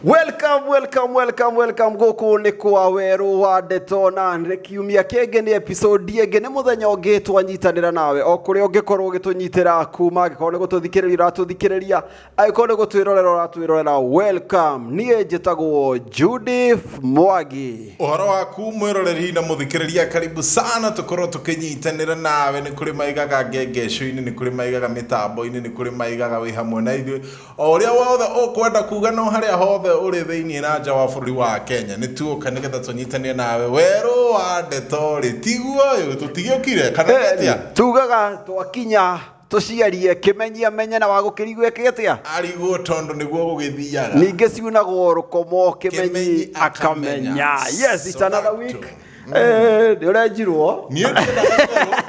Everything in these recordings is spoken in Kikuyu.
Welcome, welcome, welcome, welcome gũkũ nĩ kwa werũ wa ndeto na nĩ kiumia kĩngĩ nĩ episode ĩngĩ nĩ mũthenya ũngĩ twanyitanĩra nawe o kũrĩa ũngĩkorwo ũgĩtũnyitĩra kuma angĩkorwo nĩ gũtũthikĩrĩria ũratũthikĩrĩria aiko nä gå twä rorera å ratwä rorera welcome niä njä tagwo judith mwagi Ũhoro waku mwĩroreri na mũthikĩrĩria karibu sana tũkorwo tũkĩnyitanĩra nawe nĩ kũrĩ maigaga ngengeco-inĩ nĩ kũrĩ maigaga mĩtambo-inĩ nĩ kũrĩ maigaga wĩ hamwe na ithuĩ o ũrĩa wothe ũkwenda kuga no harĩa hothe ũrĩ thĩinĩ na nja wa bũrũri wa Kenya nĩ tuoka nĩgetha tũnyitanĩre nawe werũ wa ndeto rĩ tiguo ũyũ tũtigĩũkire kana Eh, nĩatia tugaga twakinya tũciarie kĩmenyia menye na wagũkĩri gwĩke atĩa arigwo tondũ nĩguo gũgĩthiaga ningĩ ciunagwo rũkomo kĩmenyi Kĩmenyi akamenya akamenya. yes it's So another that week too. Eh, nĩ ũrenjirwo niĩ ndĩraigua-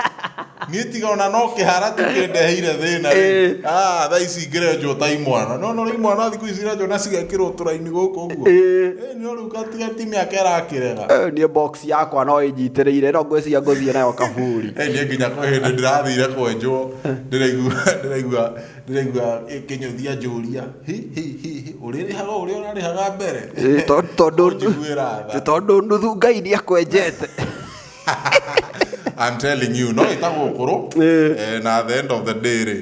niĩ tiga ona no kĩhara tu kĩndeheire thĩna Eh. rĩ Ah, thaa ici ngĩrenjwo ta imwana no no rĩ imwana thikũ ici irenjwo na cigekĩrwo tũraini gũkũ ũguo Eh. Eh, no rĩu gatiga ti mĩaka ĩrakĩrega Eh, niĩ box Ngothi yakwa no ĩnyitĩrĩire no ngwĩciria ngũthiĩ nayo kaburi Eh, niĩ nginya kwĩ hĩndĩ ndĩrathire kwenjwo ndĩraigua ndĩraigua ndĩraigua kĩnyũthia njũria hi hi hi hi ũrĩrĩhaga ũrĩa ũrarĩhaga mbere Ĩ, to- tondũ Ũnjiguĩra tha. tondũ nuthu ngai nĩ akwenjete I'm telling you no ĩtagwo ũkũrũ Eh. Eh, na at the end of the day rĩ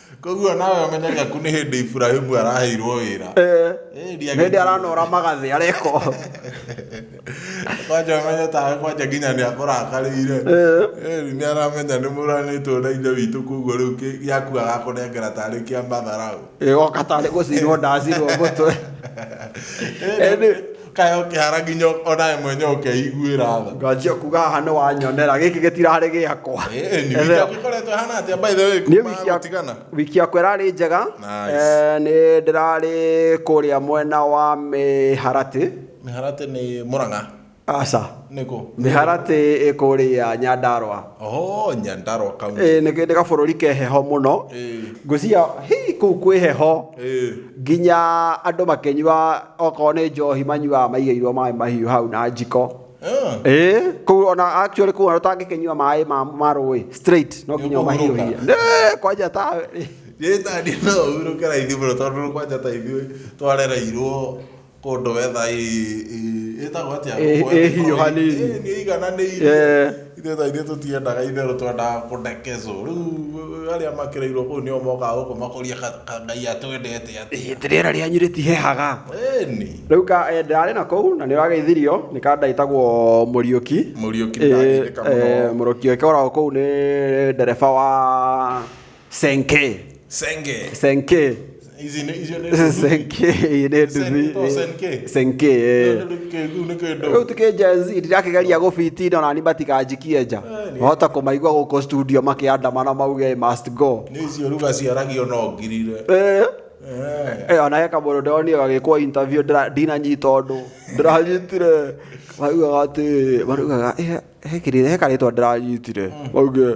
koguo nawe ũmenyaga ku nĩ hĩndĩ iburahimu araheirwo wĩra Eh, Eh, ndiagĩrĩire. nĩ hĩndĩ aranora magathĩ areko kwanja ũmenye tawe kwanja nginya nĩ akũrakarĩire Eh. Eh, nĩ aramenya nĩ mũranĩtwo na ithe witũ koguo rĩu kĩ- gĩaku agakũnengera tarĩ kĩa matharaũ ĩgoka tarĩ gũcinwo ndacinwo mũtwe Eh, Ĩndĩ- kayo kĩhara nginya onawe mwene ũkeiguĩra tha nganjia kuga haha nĩ wanyonera gĩkĩ gĩtirarĩ gĩakwa gĩkoretwo hana atĩa by the way Niĩ kuma wiki ya- gũtigana wiki yakwa ĩrarĩ njega Nice. Eh, nĩ ndĩrarĩ kũrĩa mwena wa mĩharatĩ mĩharatĩ nĩ mũrang'a aca nä kå mä haratĩ ä kå rä a nyandarwa oho nyandarwa kaunti Ĩĩ, nĩ nĩ gabũrũri ke heho mũno Ĩĩ. ngwĩciria hihi kũu kwĩ heho Ĩĩ. nginya andũ makĩnyua okorwo nĩ njohi manyuaga maigĩirwo maĩ mahiũ hau na njiko Ah. Ĩĩ, kũu ona actually kũu ona ũtangĩkĩnyua maĩ ma ma rũĩ straight no nginya Nĩũkũhurũka. ũmahiũhie Nĩ, kwanja ta Gĩtandi no ũhurũke raithi mũno tondũ kwanja ta ithuĩ twarereirwo kũndũ wetha ĩtagwo atĩa ĩhiũhanĩirie nĩ ĩigananĩirie ithuĩ tha ithuĩ tũtiendaga itherũ twendaga kũndekezwo rĩu arĩa makĩrĩirwo kũu nĩo mokaga gũkũ makũria kangai atwendete atĩa rĩera rĩanyu rĩtihehaga rĩu ka ndarĩ na kũu na nĩ ũragĩithirio nĩ kanda ĩtagwo mũriũki mũriũki mũriũki ũkoragwo kũu nĩ ndereba wa senke senge senke ici ne ici ne senke ĩĩ nĩ Sen- nduthi oh, senke. senke ĩĩ. kĩu nĩ kĩndũ rĩu tũkĩnja ndĩrakĩgeria gũbitinda na ni matikanjikie nja Eh, nĩ- wahota kũmaigua gũkũ studio makĩandamana mauge "I must go nĩ icio ruga ciaragio no ngirire Eh, Eh, eh, ona he kamũndũ ndonire gagĩkwo interview ndĩra- ndinanyita ũndũ ndĩranyitire maugaga atĩ marugaga "Eh, he kĩrĩ- he karĩtwa ndĩranyitire mauge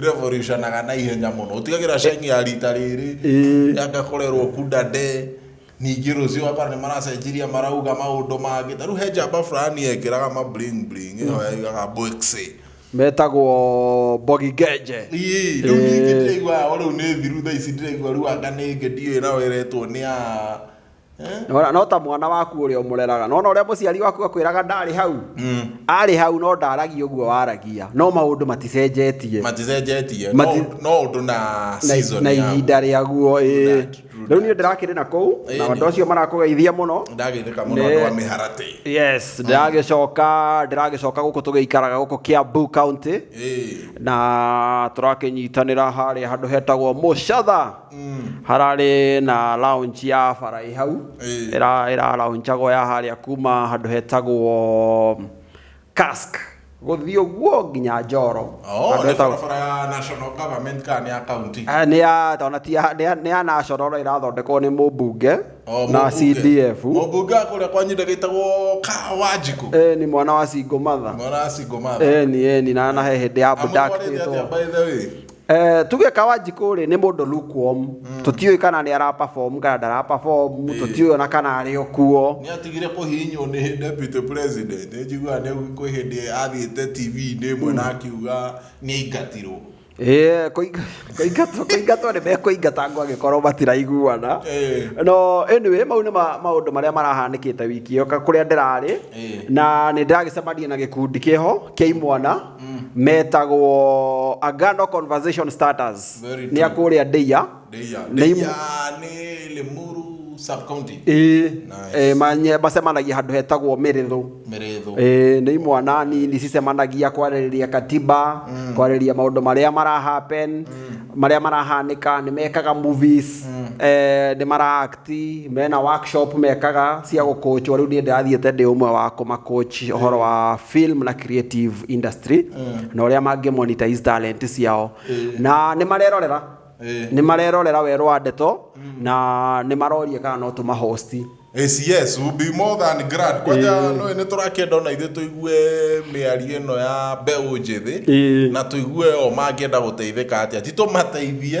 revolutionaga na ihenya mũno ũtigagĩra ceng'i ya rita rĩrĩ Ĩĩ. yagakorerwo kunda nde ningĩ rũciũ akora nĩ maracenjirie marauga maũndũ mangĩ ta rĩu he njamba fulani yekĩraga ma bling bling ĩyo yaigaga bwexi metagwo mbogi genje Ii, rĩu ningĩ ndĩraigua o rĩu nĩ thiru thaa ici ndĩraigua rĩu anga nĩ ĩngĩ ndiũĩ nayo ĩretwo nĩ ya Nona no ta mwana waku ũrĩa ũmũreraga nona ũrĩa mũciari waku akwĩraga ndarĩ hau mm. arĩ hau no ndaragia ũguo waragia no maũndũ maticenjetie maticenjetie no ũndũ na season na ihinda rĩaguo ĩĩ rĩu niĩ ndĩrakĩrĩ na kũu na andũ acio marakũgeithia mũno ndagĩthĩka mũno andũ a mĩharatĩ yes mm. ndĩragĩcoka ndĩragĩcoka gũkũ tũgĩikaraga gũkũ Kiambu county na tũrakĩnyitanĩra harĩa handũ hetagwo Mũcatha hararĩ na lounge ya barai hau Ĩĩ. ĩra ĩra loungeagwo ya harĩa kuma handũ hetagwo cask gũthiĩ ũguo nginya njoro Oh, Handũ nĩ hetagwo- barabara ya national government kana nĩ ya county Ah, nĩ ya tona ti ya nĩ ya- nĩ ya national no ĩrathondekwo nĩ mũmbunge Oh, na mũmbunge. CDF mũmbunge wa kũrĩa kwanyu ndagĩtagwo kawanjikũ Eh, nĩ mwana wa Singo Matha mwana wa single mother eni eni na na he hĩndĩ ya amũtwarĩte atĩa abductĩtwo by the way Eh, tuge kawanjikå rä nä må ndå lukewarm tå kana nä ara perform kana ndara perform tå tiå ona kana arä o kuo nä atigire kå hinywo nä deputy president nä njiguaga nä kwä hä ndä athiä te tv-inä ĩmwe na akiuga nä aingatirwo Eh, kũinga- kũingatwo kũingatwo nĩ mekũingata ngo angĩkorwo matiraiguana Eh. no anyway mau nĩ ma- maũndũ marĩa marahanĩkĩte wiki ĩyo ka- kũrĩa ndĩrarĩ Eh. na nĩ ndĩragĩcemania na gĩkundi kĩho kĩa imwana metagwo Agano Conversation Starters Very nĩ a true. kũrĩa Ndeia Ndeia. Nĩ Ndeia imwe- nĩ Limuru sub-county. Ĩĩ, Nice. eh, manye- macemanagia handũ hetagwo Mĩrĩthũ Mĩrĩthũ. Ĩĩ, nĩ imwana nini cicemanagia kwarĩrĩria katiba kwarĩrĩria maũndũ marĩa marahappen marĩa marahanĩka nĩ mekaga movies eh, nĩ mara ti mena workshop mekaga cia gũkũchwo rĩu niĩ ndĩrathiĩte ndĩ ũmwe wa kũmakũch ũhoro wa film na creative industry na ũrĩa mangĩ monetize talent ciao na nĩ marerorera nĩ marerorera werũ wa ndeto na nĩ maroria kana no tũmahosti Yes, yes, will be more than glad. Kwanja no nĩ tũrakĩenda ona ithuĩ tũigue mĩario ĩno ya mbeũ njĩthĩ Ĩĩ. na tũigue o mangĩenda gũteithĩka atĩa ti tũmateithie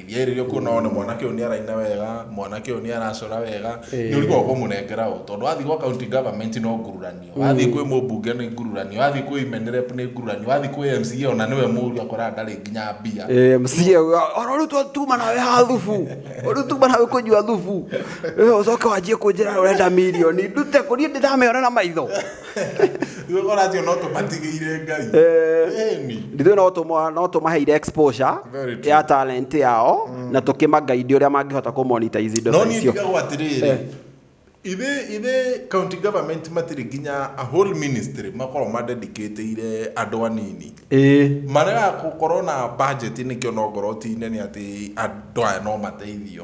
ndiaĩrĩrio kuona one mwanake ũyũ nĩ araina wega mwanake ũyũ nĩ aracora wega nĩ ũrigwo kũmũnengera ũ tondũ wathiĩ gwa county government no ngururanio wathiĩ kwĩ mũmbunge nĩ ngururanio wathiĩ kwĩ imenirep nĩ ngururanio wathiĩ kwĩ mca ona nĩwe mũru akoraga ndarĩ nginya mbia Eh, msikie ona rä u tuma nawe ha thubu rä u tuma nawe kå nyua thubu Eh, å coke wanjie kå njä ra å renda milioni ndute kå niä ndä ndameona na maitho Rĩu ũratio no tũmatigĩire ngai Ĩni. ndithuĩ no tũma- no tũmaheire exposure Very true. ya talent yao na tũkĩmagaidi ũrĩa mangĩhota kũmonetize indo no ta niĩ icio ndigagwo atĩrĩrĩ Eh. ithe ithe county government matirĩ nginya a whole ministry makorwo madedicatĩire andũ anini Ĩĩ. marega gũkorwo na budget nĩkĩo no ngorwo ti nene atĩ andũ aya no mateithio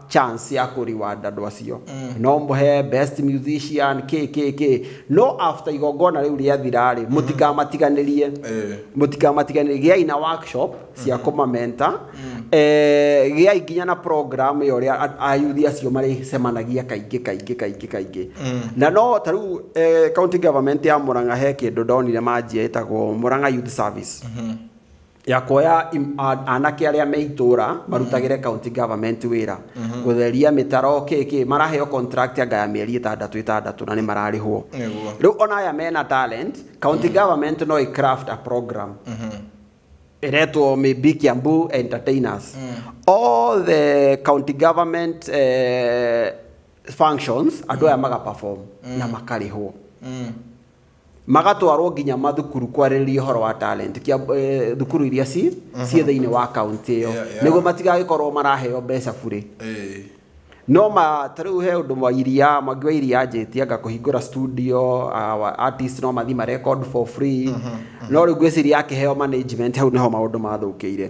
chance ya kũ reward andũ acio no mũhe best musician kĩ kĩ kĩ no after igongona rĩu rĩathira rĩ mũtikamatiganĩrie Eh. mũtikamatiganĩrie gĩai na workshop cia kũmamenta eh, gĩai nginya na program ĩyo rĩa a- ayuthi acio marĩcemanagia kaingĩ kaingĩ kaingĩ kaingĩ na no ta rĩu eh, county government ya Murang'a he kĩndũ ndonire manjia ĩtagwo Murang'a Youth Service ya kuoya anake arĩa me itũra mhm. marutagĩre county government wĩra mhm. gũtheria mĩtaro kĩkĩ maraheo contract anga ya mĩeri ĩtandatũ ĩtandatũ na nĩ mararĩhwo rĩu ona aya mena talent county mhm. government no ĩ craft a program iretwo maybe Kiambu entertainers mm. all the county government uh, functions andũ aya mm. maga perform na mm. makarĩhwo magatwarwo nginya mathukuru kwarĩrĩria ũhoro wa talent kia eh, thukuru iria ci mhm. ciĩ thĩinĩ wa kaunti ĩyo nĩguo matigagĩkorwo maraheo mbeca burĩ no ma ta rĩu he ũndũ wa iria mangĩ wa iria njĩtie anga kũhingũra studio artist no mathi ma record for free mhm, mhm. no rĩu ngwĩciria akĩheo management hau nĩho maũndũ mathũkĩire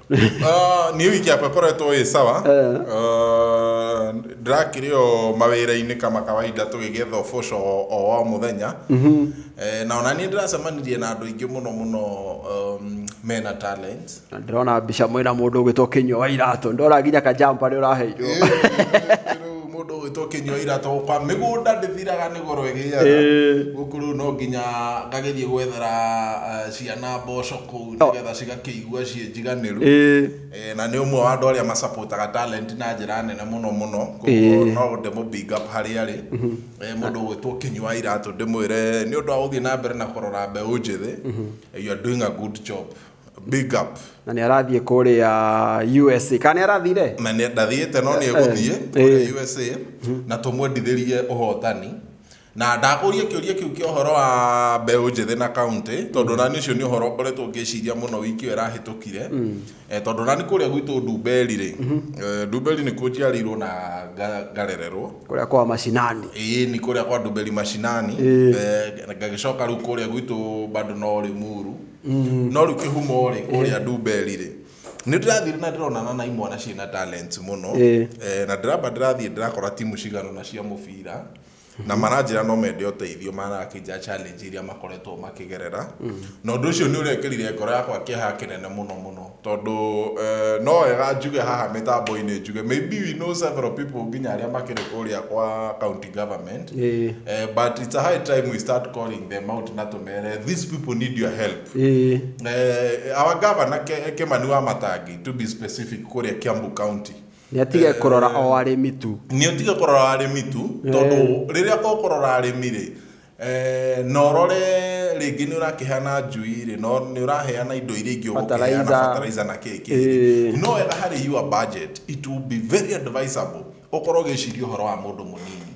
Ah, niä wiki yakwa ĩkoretwo ĩ sawa Eh. Ah, ndĩrakĩrĩ o mawĩra-inĩ kama kawaida tũgĩgetha ũboco o- o wa mũthenya Eh, na ona niĩ ndĩracemanirie na andũ aingĩ mũno mũno um, mena talent Na ndĩrona mbica mwĩna mũndũ ũgĩtwo kĩnyua wa iratũ ndora nginya kajampa rĩ ũraheirwo Rĩu mũndũ ũgĩtwo kĩnyua iratũ kwa mĩgũnda ndĩthiraga nĩ goro ĩgĩaga Ĩĩ. gũkũ rĩu no nginya ngagerie gwethera eh, ciana mboco kũu nĩgetha cigakĩigua ciĩ njiganĩru ĩĩ Eh, na nĩ ũmwe wa andũ arĩa macapotaga talent na njĩra nene mũno mũno koguo Ĩĩ. no ndĩmũ big up harĩa arĩ Eh, mũndũ ũgwĩtwo kinyua iratũ ndĩmwĩre nĩ ũndũ wa gũthiĩ na mbere na kũrora mbeũ njĩthĩ you are doing a good job big up na nĩ arathiĩ kũrĩa usa kana nĩ arathire na nĩ- ndathiĩte no nĩ egũthiĩ Eh, kũrĩa usa na tũmwendithĩrie ũhotani Na ndakũrie kĩũria kĩu kĩa ũhoro wa mbeũ njĩthĩ na kaunti tondũ nani ũcio nĩ ũhoro ũkoretwo ngĩciria mũno wiki ĩyo ĩrahĩtũkire Eh, tondũ nani kũrĩa gwitũ Ndumberi rĩ eh, Ndumberi nĩkuo njiarĩirwo na nga- ngarererwo kũrĩa kwa macinani ĩĩ ni kũrĩa kwa Ndumberi macinani Ĩĩ. Eh, ngagĩcoka rĩu kũrĩa gwitũ bado no Limuru no rĩu kĩhumo rĩ kũrĩa Ndumberi rĩ nĩ ndĩrathire na ndĩronana na imwana ciĩna talents mũno Ĩĩ. Eh, na ndĩramba ndĩrathiĩ ndĩrakora timu cigana na cia mũbira na maranjĩra no mende ũteithio marakĩnjĩra challenge iria makoretwo makĩgerera na ũndũ ũcio nĩ ũrekĩrire ngoro yakwa kĩeha kĩnene mũno mũno tondũ eh, no wega njuge haha mĩtambo-inĩ njuge maybe we know several people nginya arĩa makĩrĩ kũrĩa kwa county government Ĩĩ. Eh, but it's a high time we start calling them out na tumere these people need your help Ĩĩ. Eh, our governor Ke- Kimani wa Matangi to be specific kũrĩa Kiambu County Nĩ atige kũrora o arĩmi tu. Nĩ ũtige kũrora arĩmi tu tondũ rĩrĩa ũkũrora arĩmi rĩ eh, na ũrore rĩngĩ nĩ ũrakĩheana njui rĩ no nĩ ũraheana indo iria ingĩ ũgũkĩheana Fertilizer. fertilizer na kĩĩ kĩĩ Ĩĩ. no wega harĩ your budget it will be very advisable ũkorwo ũgĩciria ũhoro wa mũndũ mũnini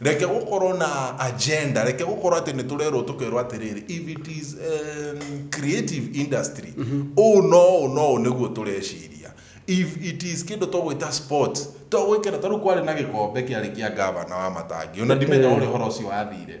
Reke gũkorwo na agenda, reke gũkorwo atĩ nĩ tũrerwo tũkerwo atĩrĩrĩ, if it is um, creative industry, ũũ no ũũ no ũũ nĩguo tũreciria. If it is kĩndũ tũgwĩta sports, tũgwĩkĩra, tondũ kwarĩ na gĩkombe kĩarĩ kĩa ngavana wa Matangi, ona ndimenya ũrĩa ũhoro ũcio wathire.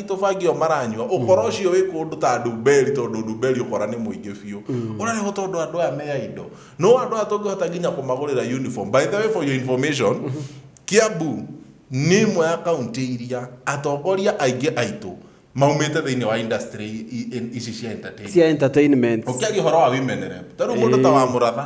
aitũ bangi ĩyo maranyua ũkora ũcio wĩ kũndũ ta ndumberi tondũ ndumberi ũkora nĩ mũingĩ biũ ũrarĩhwo tondũ andũ aya me aindo no andũ aya tũngĩhota nginya kũmagũrĩra uniform by the way for your information kiambu nĩ imwe ya kaunti iria atongoria aingĩ aitũ maumĩte thĩinĩ wa industry i- i- ici cia entertainment cia entertainment ũkĩaria ũhoro wa women rep tarĩu mũndũ ta wa mũratha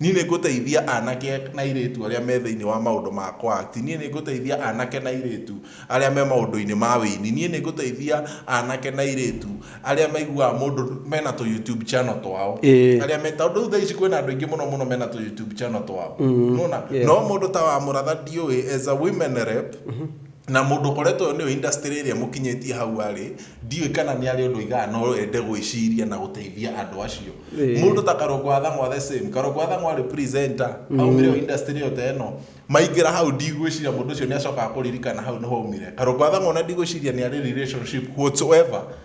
Niĩ nĩ ngũteithia anake na airĩtu arĩa me thĩinĩ wa maũndũ ma kũakti. Niĩ nĩ ngũteithia anake na airĩtu arĩa me maũndũ-inĩ ma wĩini. Niĩ nĩ ngũteithia anake na airĩtu arĩa maiguaga mũndũ mena tũ YouTube channel twao. Ĩĩ. Arĩa me, tondũ rĩu thaa ici kwĩna andũ aingĩ mũno mũno mena tũ YouTube channel twao. Nĩ wona? Yes. No mũndũ ta wa mũratha ndiũĩ as a women rep, na mũndũ ũkoretwo ũyũ nĩwe industry ĩrĩa mũkinyĩtie hau arĩ ndiũĩ kana nĩ arĩ ũndũ igaga no ende gwĩciria na gũteithia andũ acio Ĩĩ. mũndũ ta karongo athang'wa the same karongo athang'wa arĩ presenter aumire o industry ĩyo ta ĩno maingĩra hau ndigwĩciria mũndũ ũcio nĩ acokaga kũririkana hau nĩ haumire karongo athang'wa ona ndigwĩciria nĩ arĩ relationship whatsoever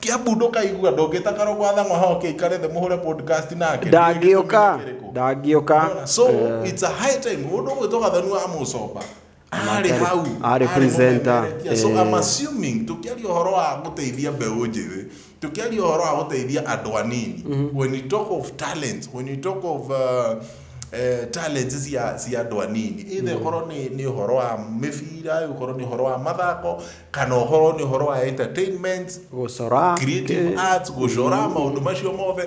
Kiambu ndũkaigua ndũngĩta karogo athang'wa hoke ikare thĩ mũhũre podcast nake ndangĩũka ndangĩũka so Eh, it's a high time mũndũ ũgwĩtwo gathanu wa mũcomba arĩ Arĩ- hau arĩ presenter, mũmemerekia. so eh. I'm assuming tũkĩaria ũhoro wa gũteithia mbeũ njĩthĩ tũkĩaria ũhoro wa gũteithia andũ anini when you talk of talents when you talk of uh, eh, talents cia cia andũ anini ithe korwo nĩ nĩ ũhoro wa mĩbira ũkorwo nĩ ũhoro wa mathako kana ũhoro nĩ ũhoro wa entertainment gũcora creative arts gũcora maũndũ macio mothe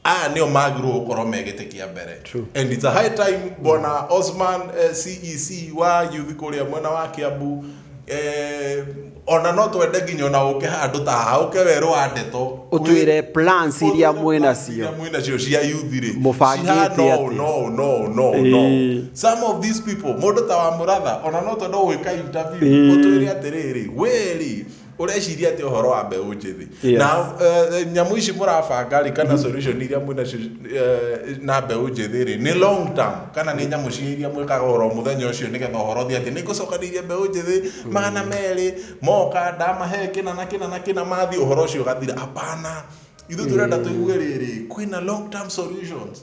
aya nĩo magĩrĩirwo gũkorwo me gĩtĩ kĩa mbere True. and it's a high time bwana osman eh, cec wa yuthi kũrĩa mwena wa kiambu eh, ona no twende nginya ona ũke handũ ta haha ũke werũ wa ndeto ũtwĩre plans iria mwĩnacio mwĩnacio cia yuthi rĩ Mũbangĩte cihana ũũ, atĩa? no ũũ, no ũũ, no ũũ, no ũũ. Ĩĩ. some of these people mũndũ ta wa mũratha ona no tondũ gwĩka interview Ĩĩ. ũtwĩre atĩrĩrĩ wĩrĩ ũreciria atĩ ũhoro wa mbeũ njĩthĩ Yes. na eh, nyamũ ici mũrabanga rĩ kana solution iria mwĩna cio- eh, na mbeũ njĩthĩ rĩ nĩ long term kana nĩ nyamũ cia iria mwĩkaga oro mũthenya ũcio nĩgetha ũhoro thi atĩ nĩ ngũcokanĩirie mbeũ njĩthĩ magana merĩ moka ndamahe kĩna na kĩna na kĩna mathiĩ ũhoro ũcio ũgathira hapana ithuĩ tũrenda tũigue rĩrĩ kwĩna long term solutions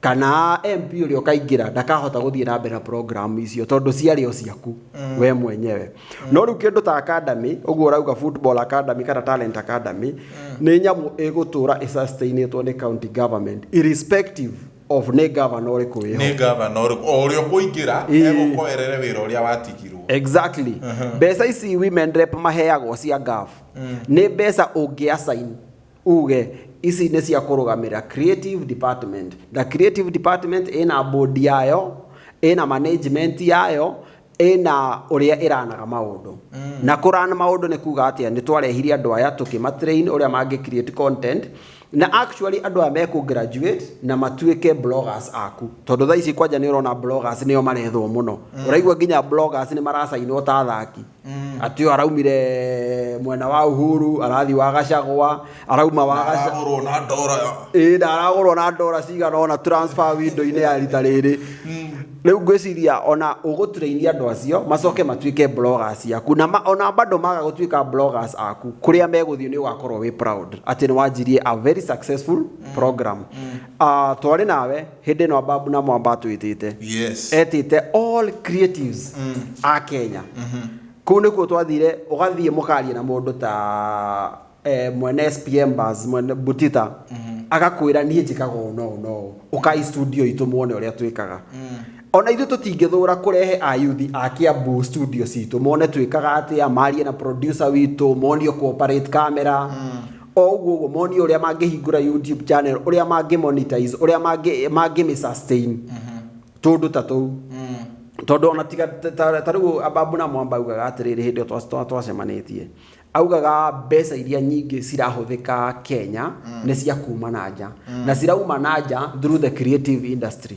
kana MP ũrĩa ũkaingĩra ndakahota gũthiĩ na mbere na program icio tondũ ciarĩ o ciaku mm. we mwenyewe mm. no rĩu kĩndũ ta academy ũguo ũrauga football academy kana talent academy mm. nĩ nyamũ ĩgũtũra ĩsustainĩtwo nĩ county government irrespective of nĩ gavana ũrĩkũ wĩho nĩ gavana ũrĩkũ o ũrĩa ũkũingĩra egũkoerere wĩra ũrĩa watigirwo exactly uh-huh. mbeca ici women rep maheagwo cia gov mm. nĩ mbeca ũngĩasaini uge ici nĩ cia kũrũgamĩra creative department the creative department ĩna board yayo ĩna management yayo ĩna ũrĩa ĩranaga maũndũ mm. na kũrana maũndũ nĩ kuga atĩa nĩ twarehire andũ aya tũkĩmatrain ũrĩa mangĩ create content na actually andå aya mekå graduate na matuĩke bloggers aku tondå thaa ici kwanja nä å rona bloggers nä o marethwo må no mm. å raigua nginya bloggers nä maracainwo ta thaki mm. atĩ ũyũ araumire mwena wa uhuru arathi wa gacagwa arauma wa aragũrwo na ndora ĩĩ na aragũrwo na ndora cigana ona transfer window-inĩ ya rita rĩrĩ mm. rĩu ngwĩciria ona ũgũturĩirie andũ acio macoke matuĩke bloggers ciaku na ma, ona bado maga gũtuĩka bloggers aku kũrĩa megũthiĩ nĩ ũgakorwo wĩ proud atĩ nĩ wanjirie a very successful mm. program mm. Uh, twarĩ nawe Hĩndĩ ĩno Ababu na Mwamba atwĩtĩte. Yes. Etĩte all creatives a Kenya. Kũu nĩkuo twathire, ũgathiĩ mũkaria na mũndũ ta eh, mwene SPM Bars, mwene Butita, agakwĩra niĩ njĩkaga ũũ na ũũ na ũũ. Ũkai studio itũ muone ũrĩa twĩkaga. Ona ithuĩ tũtingĩthũra kũrehe ayuthi a Kiambu studio citũ mone twĩkaga atĩa, marie na producer witũ, monio kũ operate camera. o ũguo ũguo monio ũrĩa mangĩhingũra youtube channel ũrĩa mangĩ monetize ũrĩa mangĩ mangĩ sustain mhm. tũndũ ta tũu mm. tondũ ona tiga ta rĩu ambabu na mwamba augaga atĩrĩrĩ hĩndĩ ĩyo twacemanĩtie augaga mbeca iria nyingĩ cirahũthĩka Kenya mm. nĩ cia kuma na nja mm. na cirauma na nja through the creative industry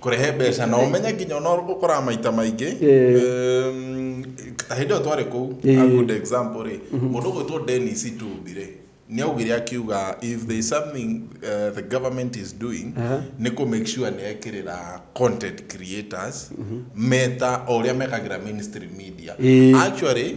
kũrehe mbeca na ũmenye nginya ona ũkoraga maita maingĩ em, ta hĩndĩ ĩyo twarĩ kũu Eh. a good example rĩ mũndũ ũgwĩtwo denis tumbi rĩ nĩ augire akiuga if there is something uh, the government is doing Aha. nĩ kũ make sure nĩ ekĩrĩra content creators meta o ũrĩa mekagĩra ministry media Eh. actually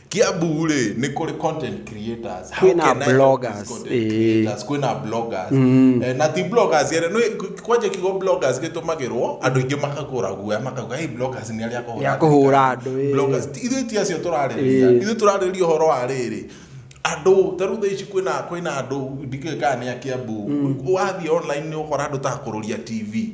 Kiambu rĩ nĩ kũrĩ content creators. How Kwĩna can I help bloggers, these content eh. creators? Kwĩna bloggers. Eh, Na ti bloggers yere nĩ kwanja kiugo bloggers gĩtũmagĩrwo andũ aingĩ makagũra guoya makauga hey bloggers nĩ arĩa akũhũra Ya kũhũra andũ, thirikari." eh. Bloggers ti- ithuĩ ti acio tũrarĩrĩria. Eh. Ithuĩ tũrarĩrĩria ũhoro wa rĩrĩ. Andũ ta rĩu thaa ici kwĩna kwĩna andũ ndikĩĩ kana nĩ a Kiambu. Wathiĩ online nĩ ũkora andũ ta kũrũria TV.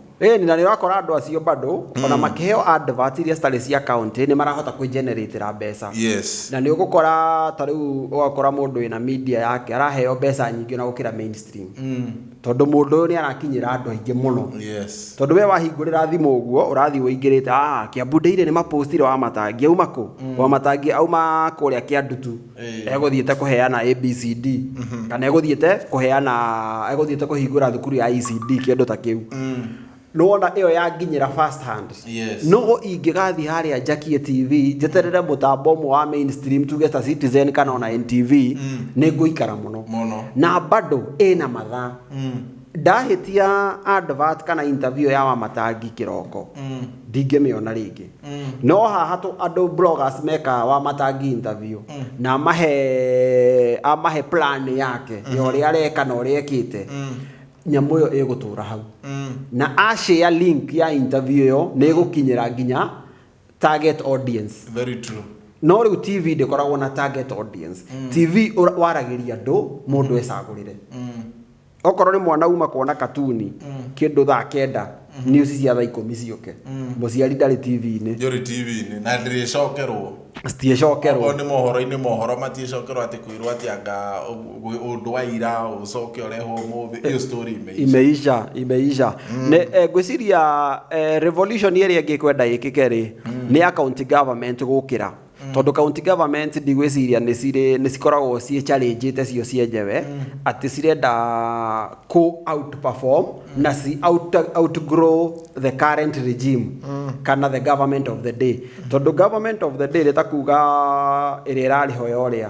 Ĩni na nĩ ũrakora andũ acio bado mm. ona makĩheo advert iria citarĩ cia county nĩ marahota kwĩgeneratĩra mbeca yes. na nĩ ũgũkora ta rĩu ũgakora mũndũ wĩna media yake araheo mbeca nyingĩ ona gũkĩra mainstream mm. tondũ mũndũ ũyũ nĩ arakinyĩra andũ aingĩ mũno yes. tondũ we wahingũrĩra thimũ ũguo ũrathiĩ ũingĩrĩte ah, kĩambu ndeire nĩ mapostire wamatangi auma kũ mm. wamatangi auma kũrĩa kĩa ndutu egũthiĩte kũheana ABCD kana egũthiĩte kũheana egũthiĩte kũhingũra thukuru ya ECD kĩndũ ta kĩu nĩ wona ĩyo yanginyĩra first hand Yes. no ingĩgathiĩ harĩa njakie TV njeterere mũtambo ũmwe wa mainstream tuge ta Citizen kana ona NTV nĩ ngũikara mũno Mũno. na bado ĩna mathaa ndahĩtia advert kana interview ya wamatangi kĩroko ndingĩmĩona rĩngĩ no haha tũ andũ bloggers meka wamatangi interview na amahe amahe plan yake ya ũrĩa areka na ũrĩa ekĩte nyamũ ĩyo ĩgũtũra hau na ashare link ya interview ĩyo nĩ ĩgũkinyĩra nginya target audience very true no rĩu tv ndĩkoragwo na target audience tv ũra- waragĩria andũ mũndũ ecagũrĩre okorwo nĩ mwana uma kuona katuni kĩndũ thaa kenda news cia thaa ikũmi ciũke mũciari ndarĩ tv-inĩ njũrĩ tv-inĩ na ndĩrĩcokerwo citiĩcokerwo okorwo nĩ mohoro-inĩ mohoro matiĩcokerwo atĩ kwĩrwo atĩ anga ũ- ũndũ wa ira ũcoke ũrehwo ũmũthĩ iyo story imeisha imeisha imeisha Nĩ- eh, ngwĩciria eh, revolution ĩrĩa ĩngĩkwenda ĩkĩke rĩ nĩ ya county government gũkĩra mm. tondå county government ndigwĩciria nĩ cikoragwo ciĩ challenge te cio cienyewe mm. atĩ cirenda kũ outperform mm. na ci out, outgrow the current regime mm. kana the government of the day mm. tondå government of the day rä ta kuga ĩrĩa ĩrarĩ ho ya ũrĩa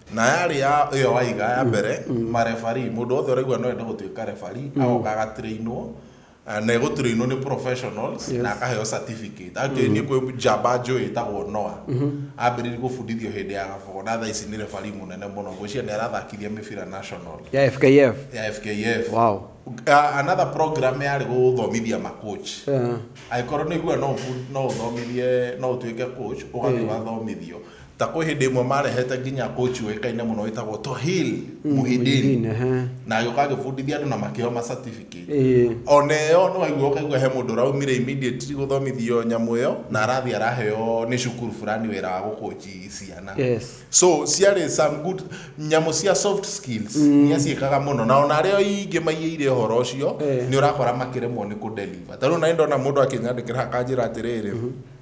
na yarĩ ya ĩyo waiga ya mbere marebari mũndũ wothe ũraigua no enda gũtuĩka rebari agoka agatrainwo eh, na egũtrainwo nĩ professionals Yes. na akaheo certificate actually niĩ kwĩ njamba njũĩ ĩtagwo noa ambĩrĩirie gũbundithio hĩndĩ ya gabogo na thaa ici nĩ rebari mũnene mũno ngwĩciria nĩ arathakithia mĩbira national ya fkf ya fkf wow Uh, another program yarĩ gũthomithia macoach Eh, angĩkorwo nĩ igua no ũbu- no ũthomithie no ũtuĩke coach ũgathiĩ wathomithio ta kwĩ hĩndĩ ĩmwe marehete nginya coach ũĩkaine mũno wĩtagwo Tohil Muhidin Muhyiddin, ehe. na agĩũka agĩbundithia andũ na makĩheo ma certificate Ĩĩ. ona ĩyo nĩ waigua ũkaigua he mũndũ ũraumire immediately gũthomithio nyamũ ĩyo na arathiĩ araheo nĩ cukuru fulani wĩra wa gũkũnji ciana Yes. so ciarĩ some good nyamũ cia soft skills mm. nĩ aciĩkaga mũno na ona arĩa ingĩ maiyĩire ũhoro ũcio Eh. nĩ ũrakora makĩremwo nĩ kũdeliver tarĩu na ndona mũndũ akĩnyandĩkĩra akanjĩra atĩrĩrĩ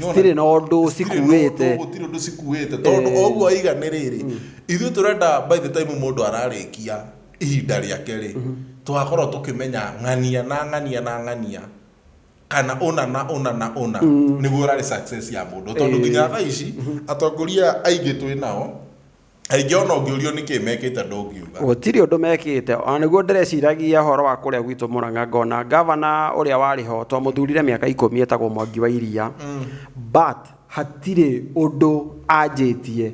citirĩ na ũndũ cikuĩte gũtirĩ ũndũ cikuĩte tondũ o ũguo aiga nĩ rĩrĩ ithuĩ tũrenda by the time mũndũ ararĩkia ihinda rĩake rĩ twakorwo tũkĩmenya ng'ania na ng'ania na ng'ania kana ũna na ũna na ũna nĩguo ũrarĩ success ya mũndũ tondũ nginya thaa ici atongoria aingĩ twĩ nao aingĩ ona ũngĩũrio nĩkĩ mekĩte ndũngiuga gũtirĩ ũndũ mekĩte ona nĩguo ndĩreciragia ũhoro wa kũrĩa gwitũ mũrang'a ngona ngavana ũrĩa warĩ ho twamũthurire mĩaka ikũmi etagwo mwangi wa iria but hatirĩ ũndũ anjĩtie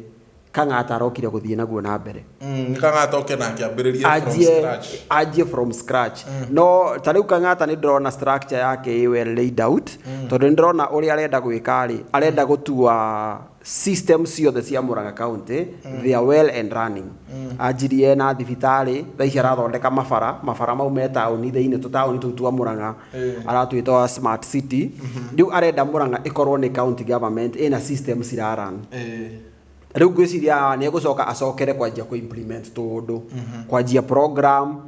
kang'ata arokire gũthiĩ naguo na mbere Mm, nĩkang'ata oke na akĩambĩrĩria from anjie scratch. anjie from scratch no ta rĩu kang'ata nĩ ndĩrona structure yake ĩ well laid out tondũ nĩ ndĩrona ũrĩa arenda gwĩka rĩ arenda gũtua system ciothe cia Murang'a County mm. they are well and running mm. anjirie na thibitarĩ thaa ici arathondeka mabara mabara mau me taũni thĩinĩ tũtaũni tũu twa Murang'a eh. aratwĩta wa smart city mm-hmm. rĩu arenda Murang'a ĩkorwo nĩ county government ĩna system ciraran eh. rĩu ngwĩciria nĩ egũcoka acokere kwanjia kũ implement tũũndũ mm-hmm. kwanjia program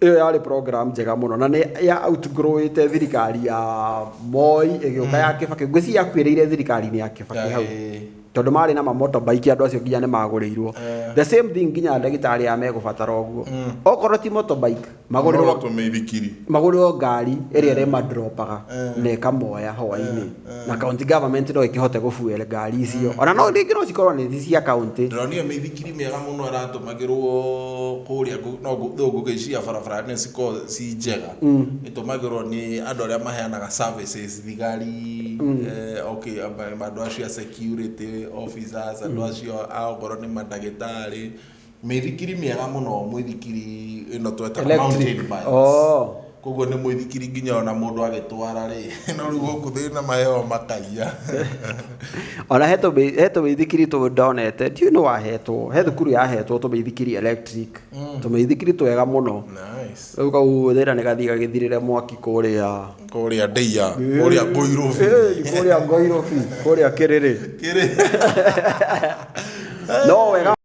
ĩyo yarĩ program njega mũno na nĩ ya outgrowĩte thirikari ya moi ĩgĩũka ya kĩbakĩ ngwĩci yakuĩrĩire thirikari-inĩ ya kĩbakĩ hau Ĩĩ. tondũ marĩ na mamotobaiki andũ acio nginya nĩ magũrĩirwo the same thing nginya ndagĩtarĩ ya megũbatara ũguo okorwo ti motorbike magũrĩrwo magũrĩrwo tũmĩithikiri magũrĩrwo ngari ĩrĩa ĩrĩmadropaga na ĩkamoya hwainĩ na county government no ĩkĩhote gũbuel ngari icio ona no rĩngĩ no cikorwo nĩ cia county ndĩronire mĩithikiri mĩega mũno ĩratũmagĩrwo kũrĩa ngũ- no ngũ- though ngũgĩciria barabara nĩ cikoragwo ci njega ĩtũmagĩrwo nĩ andũ arĩa maheanaga services thigari eh, okay, ma- andũ acio a security officers andũ acio a okorwo nĩ mandagĩtarĩ Mĩithikiri mĩega mũno mũithikiri ĩno twetaga Electric. mountain bikes. Oh. Koguo nĩ mũithikiri nginya ona mũndũ agĩtwara rĩ, no rĩu gũkũ thĩna maheo makaiya. ona he tũmĩ- he tũmĩithikiri tũ ndonete ndiũ nĩ wahetwo he thukuru yahetwo tũmĩithikiri electric tũmĩithikiri twega mũno Nice. rĩu kau thĩna nĩ gathiĩ gagĩthirĩre mwaki kũrĩa Kũrĩa ndĩia, kũrĩa ngũirũbi. Ĩĩ, kũrĩa ngoirũbi kũrĩa kĩrĩrĩ Kĩrĩ. no wega